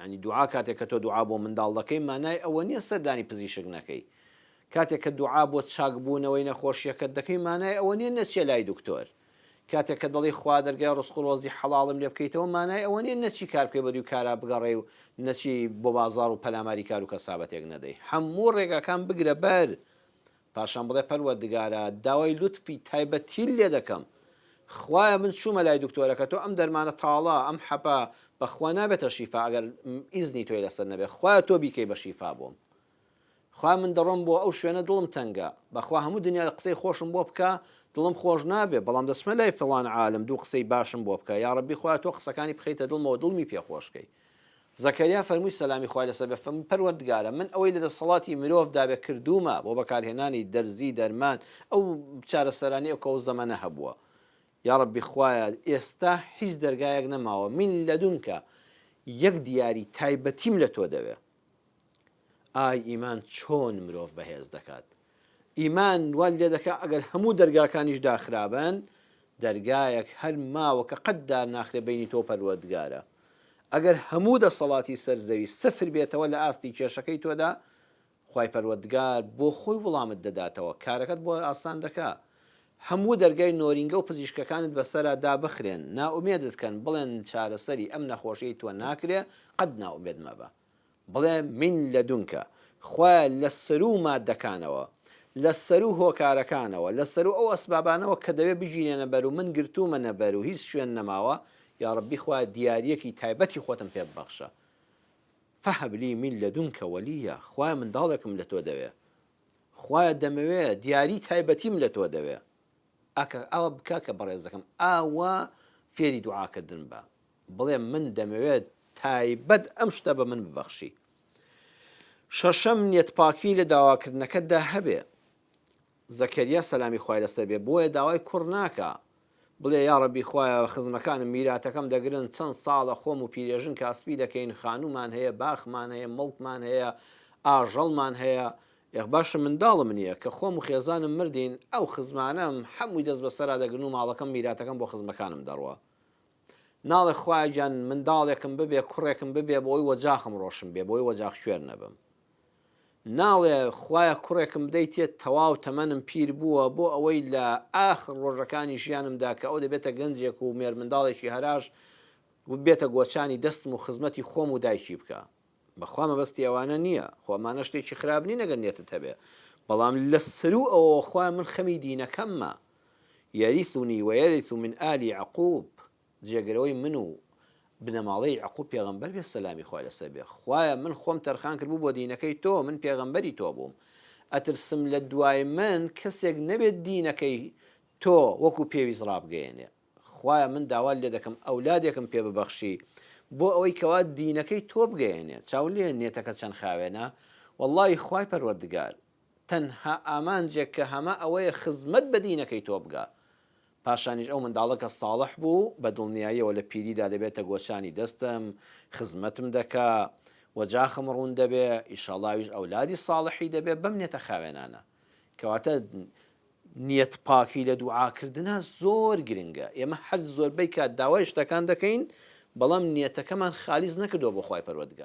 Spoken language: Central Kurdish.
یانی دوعا کاتێک کە تۆ دوعا بۆ منداڵ دەکەی مانای ئەوە نیە سەردانی پزیشک نەکەی کاتێک کە دوعا بۆ چاک بوونەوەی نەخۆشیەکەت دەکەی مانای ئەوە نیە نەچیە لای دکتۆر کاتێک کە دەڵی خوا دەرگای ڕزق و ڕۆزی حەڵاڵم لێ بکەیتەوە مانای ئەوە نیە نەچی کار بکەی بەدوی کارا بگەڕێی و نەچی بۆ بازاڕ و پەلاماری کارو کەسابەتێک نەدەی هەموو ڕێگاکان بگرە بەر پاشان بڵێ پەروەردگارا داوای لوتفی تایبەتیل لێ دەکەم خوایە من چوومە لای دکتۆرەکە تۆ ئەم دەرمانە تاڵە ئەم حەپە بەخوا نابێتە شیفا ئەگەر ئیزنی تۆی لەسەر نەبێ خوایە تۆ بیکەی بە شیفا بۆم خوایە من دەڕۆم بۆ ئەو شوێنە دڵم تەنگە بەخوا هەموو دنیا قسەی خۆشم بۆ بکە دڵم خۆش نابێ بەڵام دەچمە لای فڵان عالم دوو قسەی باشم بۆ بکە یاڕەبی خوایە تۆ قسەکانی بخەیتە دڵمەوە دڵمی پێ خۆش کەی زەکەریا فەرمووی سەلامی خوای لەسەر بێ فەرمووی پەروەردگارە من ئەوەی لە دەسەڵاتی مرۆڤ دابێ کردوومە بۆ بەکارهێنانی دەرزی دەرمان ئەو چارەسەرانەی ئەو کەو زەمەنە هەبووە یاڕەبی خوایە ئێستا هیچ دەرگایەک نەماوە من لەدونکە یەک دیاری تایبەتیم لە تۆ دەوێ ئای ئیمان چۆن مرۆڤ بەهێز دەکات ئیمان وات لێدەکا ئەگەر هەموو دەرگاکانیش داخرابن دەرگایەک هەر ماوە کە قەت دارناخرێ بینی تۆ پەروەردگارە ئەگەر هەموو دەسەڵاتی سەر زەوی سفر بێتەوە لە ئاستی کێشەکەی تۆدا خوای پەروەردگار بۆ خۆی وڵامت دەداتەوە کارەکەت بۆ ئاسان دەکا هەموو دەرگای نۆرینگە و پزیشکەکانت بەسەرا دابخرێن نائومێدت کەن بڵێن چارەسەری ئەم نەخۆشیەی تۆ ناکرێ قەت نائومێد مەبە بڵێ من لدنک، خوایە لە سەروو ماددەکانەوە، لە سەروو هۆکارەکانەوە، لە سەروو ئەو ئەسبابانەوە کە دەبێ بگیرێنە بەر و من گرتوومەنە بەر و هیچ شوێن نەماوە، یا ڕەبی خوایە دیارییەکی تایبەتی خۆتم پێ ببەخشە. فهب لی من لدنک ولییا، خوایە منداڵێکم لە تۆ دەوێ. خوایە دەمەوێ دیاریی تایبەتیم لە تۆ دەوێ. ئاکا ئاوا بکە کە بەڕێزەکەم ئاوا فێری دوعاکردن بە. بڵێم من دەمەوێت تایبەت ئەم شتە بە من ببەخشی شەشەم نیەتپاکی لە داواکردنەکەتدا هەبێ زەکەریا سەلامی خوای لەسەر بێ بۆیە داوای کوڕ ناکا بڵێ یا ڕەبی خوایە خزمەکانم میراتەکەم دەگرن چەند ساڵە خۆم و پیرێژن کاسپی دەکەین خانومان هەیە باخمان هەیە مڵکمان هەیە ئاژەڵمان هەیە یەخ باشە منداڵم نییە کە خۆم و خێزانم مردین ئەو خزمانم هەمووی دەست بەسەرا دەگرن و ماڵەکەم میراتەکەم بۆ خزمەکانم دەڕوە ناڵێ خوایە گیان منداڵێکم ببێ کوڕێکم ببێ بۆی وەجاخم ڕۆشن بێ بۆی وەجاخ کوێر نەبم ناڵێ خوایە کوڕێکم بدەیتێ تەواو تەمەنم پیر بووە بۆ ئەوەی لە ئاخر ڕۆژەکانی ژیانمدا کە ئەو دەبێتە گەنجێک و مێرمنداڵێکی هەراش بێتە گۆچانی دەستم و خزمەتی خۆم و دایکی بکا. بەخوا مەبەستی ئەوانە نیە خۆ ئەمانە شتێکی خراپ نین ئەگەر نیەتت هەبێ بەڵام لەسەروو ئەوەوە خوایە من خەمی دینەکەممە یەریثونی وەیەریث من ئالی یەعقوب جێگرەوەی من و بنەماڵەی یەعقوب پێغەمبەر بێ سەلامی خوای لەسەر بێ خوایە من خۆم تەرخان کردبوو بۆ دینەکەی تۆ من پێغەمبەری تۆ بووم ئەترسم لە دوای من کەسێک نەبێت دینەکەی تۆ وەکو پێویست ڕابگەیەنێ خوایە من داوات لێ دەکەم ئەولادێکم پێ ببەخشی بۆ ئەوەی کەوا دینەکەی تۆ بگەیەنێ چاولێ نێتەکە چەن خاوێنە وەڵڵاهی خوای پەروەردگار تەنها ئامانجێک کە هەمە ئەوەیە خزمەت بە دینەکەی تۆ بگا پاشانیش ئەو منداڵە کە ساڵح بوو بە دڵنیایەوە لە پیریدا دەبێتە گۆچانی دەستم خزمەتم دەکا و جاخم ڕوون دەبێ ئیشەڵا ئەویش ئەولادی ساڵحی دەبێ بەم نێتە خاوێنانە کەواتە نیەت پاکی لە دوعا کردنا زۆر گرنگە ئێمە هەر زۆربەی کات داوای شتەکان دەکەین بەڵام نیەتەکەمان خالیس نەکردوە بۆ خوای پەروەردگار.